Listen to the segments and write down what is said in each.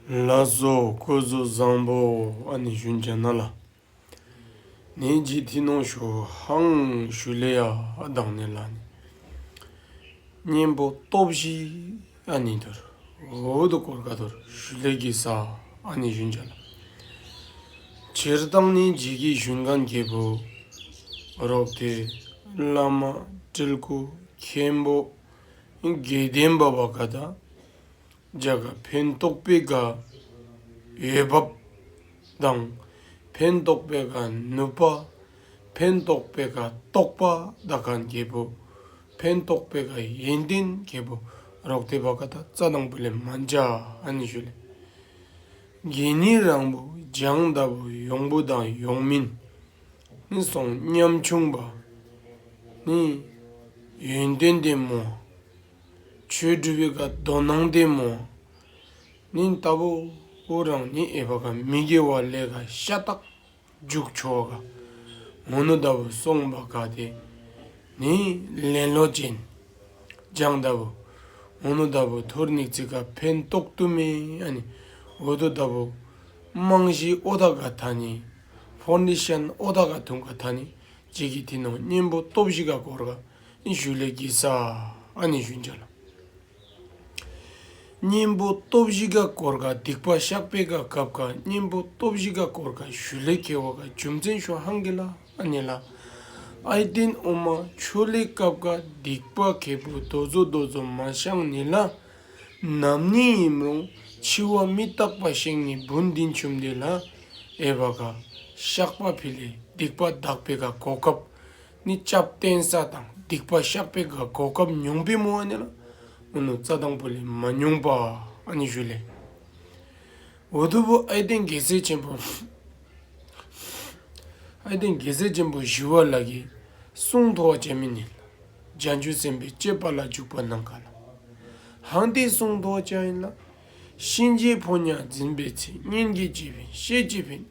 ལ་སོགས་བཀོད་གཟུགས་བཟང་པོ་ཨ་ནི་ཞུན་བྱ་ན་ལ་ནི་ཇི་ཐི་ནོ་ཞུ་ཧང་ཞུ་ལེ་ཡ་དང་ནི་ལ་ནི་གཉེན་པོ་སྟོབས་བཞི་ཨ་ནི་དུར་བུ་དུ་ཀོར་ཀ་དུར་ཞུ་ལེ་ཀི་ས་ཨ་ནི་ཞུན་བྱ་ལ་བྱེར་དང་ནི་འཇི་ཀི་ཞུན་ག་འགྱེད་པོ་རོག་སྟེ་བླ་མ་སྤྲེལ་སྐུ་མཁན་པོ་དགེ་ལྡན་པ་བ་ག་དང་འཇའ་ག་ཕན་རྟོགས་པའི་ག་ཡོད་བབ་དང་ཕན་རྟོགས་པའི་ག་ནུབ་པ་ཕན་རྟོགས་པའི་ག་རྟོགས་པ་ད་ག་འགྱེད་པོ་ཕན་རྟོགས་པའི་ག་ཡོན་ཏན་འགྱེད་པོ་རོག་སྟེ་བ་ག་ད་རྩ་དང་པོ་ལས་མ་འཇའ་ཨན་ཞུ་ལས་དགེ་བསྙེན་རང་བོ་སྦྱང་ད་བོ་ཡོང་བོ་དང་ཡོང་མིན། ནི་གསུང་ཉམས་ཆུང་བ་ནི། ཡོན་ཏན་ལྡན་མོ། ཆོས་སྒྲུབ་པའི་ཀ་རྡོ་ནང་ལྡན་མོ། ནི་ལྟ་བུ་བོ་རང་ནི་ཨེ་བ་ཀ་མི་དགེ་བ་ལས་ཀ་ཤ་སྟག་འཇུག་ཆོག་ག་ངོ་ནོ་ལྟ་བུ་གསུངས་པ་ག་དེ་ནི་ལེན་ལོ་ཅན། སྦྱང་ལྟ་བུ་ངོ་ནོ་ལྟ་བུ་ཐོར་ནིག་ཙི་ཀ་ཕན་རྟོགས་དུ་མས་ཨ་ནི་འོ་དོ་ལྟ་བུ་རྨང་གཞིའི་ཨོ་ད་ག་ད་ནི། ཧྥོ་ནི་ཤན་ཨོ་ད་ག་ཐུང་ག་ད་ནི་ཅི་གི་དི་ནོ་གཉེན་པོ་སྟོབས་བཞི་ག་གོར་ག་ཨི་ཞུ་ལེ་ཀི་ས་ཨ་ནི་ཞུན་ཅཱ་ལ། གཉེན་པོ་སྟོབས་བཞི་ག་གོར་ག་སྡིག་པ་བཤགས་པའི་ག་གབ་ག་གཉེན་པོ་སྟོབས་བཞི་ག་གོར་ག་ཞུ་ལེ་ཀེ་བ་ག་རྒྱུ་མཚན་ཤོ་ཧང་གི་ལ་ཨ་ནི་ལ། ཨའི་ཏིན་ཨོ་མ་ཆོ་ལེ་གབ་ག་སྡིག་པ་གེ་པོ་རྡོ་རྫོ་རྡོ་རྫོ་མ་ཤང་ནི་ལ། ནམ་ནིང་ཡིན་རུང་འཆི་བ་མི་རྟག་པ་ཞིག་ནི་བུན་འདི་འཆུམ་འདི་ལ་ཨེ་བ་ག། བཤགས་པ་ཕི་ལས་སྡིག་པ་འདག་པའི་ག་གོ་སྐབས་ནི་སྐྱབས་བསྟེན་ས་དང་སྡིག་པ་བཤགས་པའི་ག་གོ་སྐབས་ཉུང་པའི་མོ་ཨ་ནི་ལ་མོ་ནུ་རྩ་དང་པོ་ལས་མ་ཉུང་པ་ཨ་ནི་ཞུ་ལས། འོ་དུ་བུ་ཨའི་སྟེང་རྒྱལ་སྲས་ཆེན་པོ། ཨའི་སྟེང་རྒྱལ་སྲས་ཆེན་པོ་ཞི་བ་ལ་གིས་གསུང་མཐོ་བ་བྱས་མི་ཉན། རྒྱ་འགྱུར་ཟིན་པའི་སྐྱེས་པ་ལ་འཇུག་པ་གནང་ག་ལ། ཧང་སྟེ་གསུང་རྡོ་རྗེ་ཨེ་ན། གཤིན་རྗེའི་ཕོ་ཉར་འཛིན་པའི་ཚེ་སྙན་བརྒྱུད་སྐྱེས་བིན་ཤེས་སྐྱེས་བིན་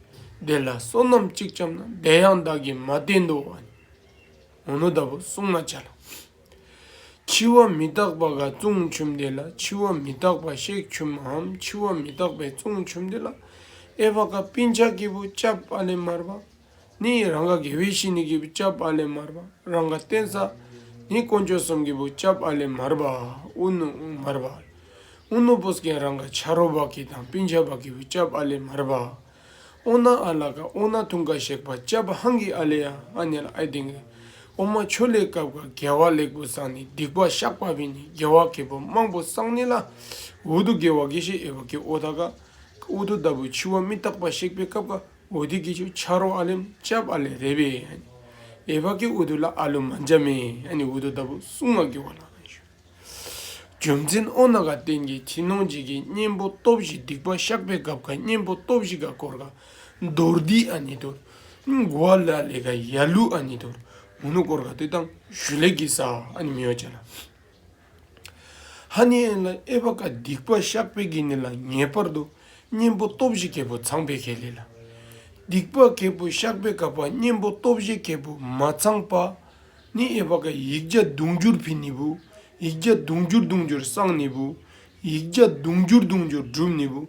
བདེ་ལ་བསོད་ནམས་གཅིག་བྱམས་ན་བདེ་ཡང་བདག་གིས་མ་བསྟེན་དོ། འོ་ན་བདག་པོ་བསྲུང་མ་བྱ་ལ། འཆི་བ་མི་རྟག་པ་འགའ་བཙུན་ཆུབ་འདི་ལ་འཆི་བ་མི་རྟག་པ་གཤེགས་ཆུབ་མའམ་འཆི་བ་མི་རྟག་པའི་བཙུན་ཆུབ་འདི་ལ། ཨེ་བྷ་ཀ་པིན་ཆ་སྐྱེས་བུ་ལྕགས་པ་ལས་དམར་བ། ནི་ཡི་རང་ག་དགེ་བའི་བཤེས་གཉེན་གྱི་བུ་ལྕགས་པ་ལས་མར་བ་རང་ག་བསྟན་བསགས། ནི་དཀོན་མཆོག་གསུམ་གྱི་བུ་ལྕགས་པ་ལས་མར་བ་ཨུ་ནུ་མར་བ། ཨུ་ནུ་པུ་ཀན་རང་ག་བྱ་རོག་བག་གི་དང་པིན་ཆ་བག་གི་བུ་ལྕགས་པ་ལས་མར་བ། ཨོ་ན་ཨ་ལ་ཀ་ཨོ་ན་ཐུང་ག་གཤེགས་པ་ལྕགས་པ་ཧང་གི་ཨ་ལས་ཨ་ནེ་ལ་ཨའི་དིང་གི་ཨོ་མ་ཆོ་ལེ་ཀབ་ཀ་རྒྱལ་བ་ལེགས་པོ་བསང་ནི་སྡིག་པ་བཤགས་པ་བི་ནི་རྒྱལ་བ་གེ་པོ་དམངས་པོ་བསང་ནི་ལ་ཝུ་དུ་དགེ་བ་དགེ་བཤེས་ཨེ་བ་ཀེ་ཨོ་ད་ཀ་ཨུ་དུ་ད་བུ་འཆི་བ་མི་རྟག་པ་གཤེགས་པའི་ཀབ་ཀ། འོ་དེ་གི་ཆོ་ཆ་རོ་ཨ་ལེམ་ཅབ་ཨ་ལེ་རེད་པས་ཨེ་བྷ་ཀི་འོ་དུ་ལ་ཨ་ལུ་མ་འཇབ་མེ་ཨ་ནི་འོ་དུ་ལྟ་བུ་གསུང་མ་གི་བ་ལ་ཨ་ཞུ། རྒྱུ་མཚན་ཨོ་ན་ག་ཏན་གི་ཁྱི་ནོང་ཅིག་གི་གཉེན་པོ་སྟོབས་བཞི་སྡིག་པ་བཤགས་པའི་སྐབས་ག་གཉེན་པོ་སྟོབས་བཞི་ག་བསྐོར་ག་མདོར་བསྡིག་ཨ་ནི་དུར་མགོ་ཨ་ལུ་ཨ་ལེ་ག་ཡ་ལུ་ཨ་ནི་དུར་མུ་ནུ་བསྐོར་ག་དུས་དང་ཞུ་ལེགས་ཀི་ས་ཨ་ནི་མི་ཨོ་ཅ་ལ། ཧ་ནི་ཨན་ལ་ཨེ་བ་ཀ་སྡིག་པ་ཤག་པེ་གི་ནི་ལ་ངེས་པར་དུ་གཉེན་པོ་སྟོབས་བཞི་གལ་པོ་ཚངས་པའི་གལ་ལས་ལ། སྡིག་པ་གལ་པོ་ཤག་པེ་ག་པ་གཉེན་པོ་སྟོབས་བཞི་གལ་པོ་མ་ཚངས་པ་ནི་ཨེ་བ་ཀ་ཡིག་བརྒྱ་དུང་འགྱུར་བི་ནི་བུ་ཡིག་བརྒྱ་དུང་འགྱུར་དུང་འགྱུར་སངས་ནི་བུ་ཡིག་བརྒྱ་དུང་འགྱུར་དུང་འགྱུར་བསྒྲུབས་ནི་བུ་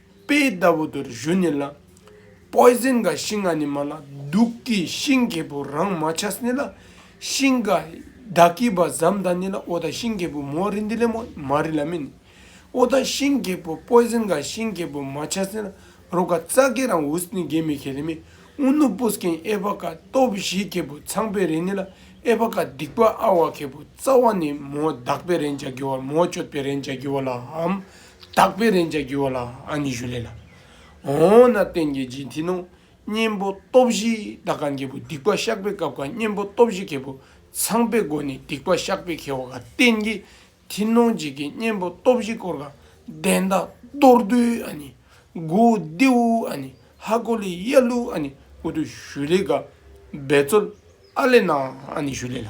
དཔེ་ལྟ་བུ་དུར་བཞོན་ནི་ལ། Poison ག་ཤིང་ང་ནི་མ་ལ། དུག་གི་ཤིང་གལ་པོ་རང་མ་ཆགས་ནི་ལ། ཤིང་ག་བདག་གི་བ་ཟམ་དང་ནི་ལ་ཨོ་ད་ཤིང་གལ་པོ་མོ་རི་འདི་ལས་མོ་མ་རི་ལ་མིན། ཨོ་ད་ཤིང་གལ་པོ Poison ག་ཤིང་གལ་པོ་མ་ཆགས་ནི་ལ་རོ་ག་ཙ་གེ་རང་ཝུས་ནི་གེ་མི་གེ་ལི་མི་ཨུ་ནུ་པུས་ཀེན་ཨེ་བྷ་ག་སྟོབས་བཞི་གལ་པོ་ཚངས་པའི་རེ་ནི་ལ་ཨེ་བྷ་ག་སྡིག་པ་ཨ་བྷ་གལ་པོ་རྩ་བ་ནི་མོ་བདག་པའི་རེ་འཇའ་གི་བ་མོ་གཅོད་པའི་རེ་འཇའ་གི་བ་ལ་ཧམ། དག་པའི་རེན་ཅཱ་གུ་བ་ལ་ཨ་ནི་ཞུ་ལེ་ལ། འོ་ན་བསྟན་གྱི་རྗེས་མཐུན་ནོ། གཉེན་པོ་སྟོབས་བཞི་དག་ག་འགལ་བུ་སྡིག་པ་བཤགས་པའི་སྐབས་ཀ་གཉེན་པོ་སྟོབས་བཞི་འགལ་བུ་ཚང་པའི་སྒོ་ནས་སྡིག་པ་བཤགས་པའི་ཁེ་བ་ག་བསྟན་གྱི་མཐུན་ནོ་རྗེས་ཀྱི་གཉེན་པོ་སྟོབས་བཞི་སྐོར་ག་བདེན་དག་མདོར་བསྡུས་ཨ་ནི་གུ་ཏེ་ཝུ་ཨ་ནི་ཧ་གོ་ལི་ཡ་ལུ་ཨ་ནི་ཨུ་དུ་ཞུ་ལེ་ག་འབད་རྩོལ་ཨ་ལེ་ན་ཨ་ནི་ཞུ་ལེ་ལ།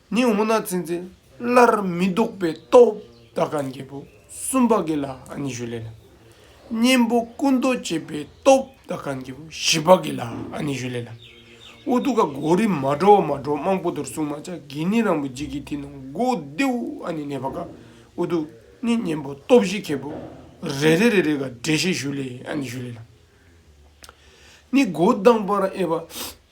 ནི་འོ་ན་ཚེ་འཛིན་སླར་མི་ལྡོག་པའི་སྟོབས་དག་ག་འགྱེད་པོ་གསུམ་པ་གི་ལ་ནི་ཞུ་ལེ་ལ། གཉེན་པོ་ཀུན་རྟོག་བསྐྱེད་པའི་སྟོབས་དག་ག་འགྱེད་པོ་བཞི་པ་གི་ལ་ནི་ཞུ་ལེ་ལ། ཨུ་ཏུ་ཀ་གོ་རི་མ་གྲོ་བ་མ་གྲོ་དམངས་པོ་དོར་སྲུང་མ་ལྕགས་ཀྱི་ནི་རང་བུ་འཇིག་གི་དེ་ནང་སྒོ་ལྡེའུ་ཨ་ནི་གནས་པ་ག་ཨུ་ཏུ་ནི་གཉེན་པོ་སྟོབས་བཞི་མཁས་པོ་རེ་རེ་རེ་རེ་ག་འགྲེ་ཤེས་ཞུ་ལེ་ཨ་ནི་ཞུ་ལེ་ལ། ནི་སྒོ་ལྡང་བར་ཨེ་བ།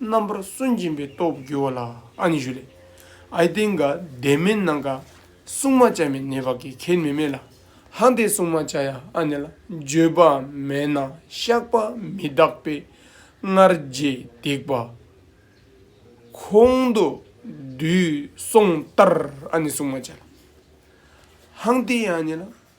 རྣམ་པར་སུན་འབྱིན་པའི་སྟོབས་བསྒྱུར་བ་ལ་ཨ་ནི་ཞུ་ལས། ཨའི་སྟེང་ག་དེ་མན་ནང་ག་སྲུང་མ་བྱ་མི་ནི་བ་གའི་ཁེལ་མི་མེད་ལ། ཧང་དེ་སྲུང་མ་བྱ་ཡ་ཨ་ནི་ལ་འགྱོད་པ་མེད་ན་བཤགས་པ་མི་རྟག་པས་སྔར་རྗེས་འདེགས་པ། གོང་དུ་དུས་གསུངས་ལྟར་ཨ་ནི་སྲུང་མ་བྱ་ལ། ཧང་དེ་ཨ་ནི་ལ་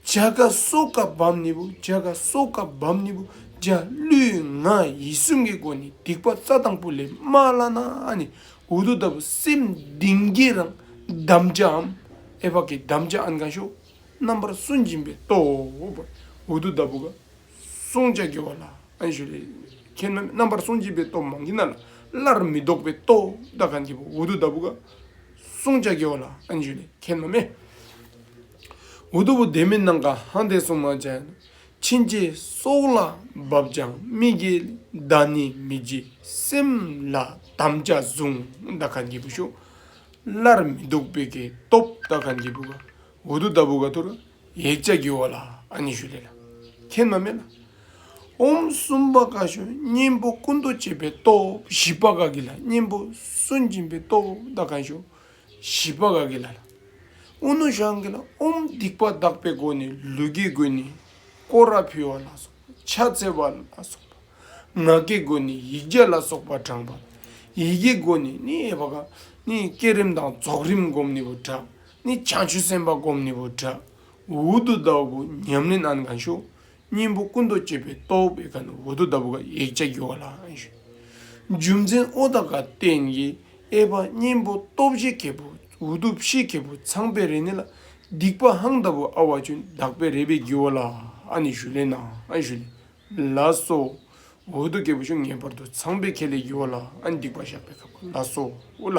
བྱ་དགའ་སོགས་སྐབས་བབ་ནི་བུ་བྱ་དགའ་སོགས་སྐབས་བབ་ནི་བུ་བྱ་ཀླུའི་ང་ཡི་གསུམ་གྱི་སྒོ་ནས་སྡིག་པ་རྩ་དང་པོ་ལས་མ་བླ་ན་ནི་འུ་དུ་ལྟ་བུ་སེམས་གདིང་བགྱི་རང་བསྡམ་བྱའམ་ཨེ་བག་གི་བསྡམ་བྱ་ཨན་གང་ཞོག་རྣམ་པར་སུན་འབྱིན་པའི་སྟོབས་པར་འུ་དུ་ལྟ་བུ་ག་སྲུང་བྱ་དགེ་བ་ལ་ཨན་ཞོ་ལས་ཁྱེར་ན་ནི་རྣམ་པར་སུན་འབྱིན་པའི་སྟོབས་མང་གི་ན་ལ་སླར་མི་ལྡོག་པའི་སྟོབས་དང་གང་གིས་བུ་འུ་དུ་ལྟ་བུ་ག་སྲུང་བྱ་དགེ་བ་ལ་ཨན་ཞོ་ལས་ཁྱེར་ན་མེ། མགོ་གཏུབ་བུ་བདེ་མི་སྣང་ག་ཧང་དེ་སྲུང་མ་བྱས། ཕྱིན་ཅི་སོགས་ལ་བབ་ཀྱང་མི་དགེ་བདག་ནི་མི་བགྱིད་སེམས་ལ་དམ་བཅའ་བཟུང་བདག་གང་སྐྱེས་བུ་ཤོག། སླར་མི་སྡུག་དཔེ་དགེ་སྟོབས་བདག་གང་སྐྱེས་བུ་ག་འུ་དུ་ལྟ་བུ་ག་དུར་ཡེ་བཅའ་བགྱི་བ་ལ་ཨ་ནི་ཞུ་ལེ་ལ་ཁྱེད་མ་མེད་ལ། ཧོམ་གསུམ་པ་ག་ཞོ་གཉེན་པོ་ཀུན་ཏུ་བྱེད་པའི་སྟོབས་བཞི་པ་ག་དགེ་ལ་གཉེན་པོ་སུན་འབྱིན་པའི་སྟོབས་བདག་གང་ཞུ། བཞི་པ་ག་གི་ལ་ལ། ཨུ་ནུ་ཤང་གི་ལ་ཨུམ་སྡིག་པ་གདགས་པའི་སྒོ་ནས་ལུས་ཀྱི་སྒོ་ནས་ཀོ་ར་ཕུལ་བ་ལ་སོགས་པ་ཕྱག་བཙལ་བ་ལ་སོགས་པ། ངག་གི་སྒོ་ནས་ཡིག་བརྒྱ་ལ་སོགས་པ་བགྲངས་པ། ཡིད་ཀྱི་སྒོ་ནས་ནི་ཧེ་བག་ནི་བསྐྱེད་རིམ་དང་རྫོགས་རིམ་བསྒོམ་ནི་བུ་དྲག་ནི་བྱང་ཆུབ་སེམས་དཔའ་བསྒོམ་ནི་བུ་དྲག་འུར་དུ་བཟླ་བ་གོ་ཉམས་ལེན་ཨན་གང་བྱོ། སྙིང་པོ་སྐུ་མདོག་བསྐྱེད་པའི་རྟོག་པའི་ག་ནི་འོ་དོ་ལྟ་བུ་ག་ཡིག་བརྒྱ་རྒྱུ་བ་ལ་ཨང་ཞུ། རྒྱུ་མཚན་ཨོ་ད་ག་རྟེན་གྱི་ཨེ་པ་སྙིང་པོ་སྟོབས་བཞི་གེ་པོ་འོ་དོ་བཞི་གེ་པོ་ཚངས་པའི་རེ་ནི་ལ་སྡིག་པ་ཧང་ལྟ་བུ་ཨ་བ་ཅུན་དག་པའི་རེ་པའི་རྒྱུ་བ་ལ་ཨ་ནི་ཞུ་ལེ་ན་ཨང་ཞུ་ལེ་ལ་སོ། འོ་དོ་གེ་པོ་ཞུ་ངེས་པར་དུ་ཚངས་པའི་ཁེ་ལས་རྒྱུ་བ་ལ་ཨ་སྡིག་པ་བཤགས་པའི་ག་པ་ལ་སོ་ཨོ་ལ།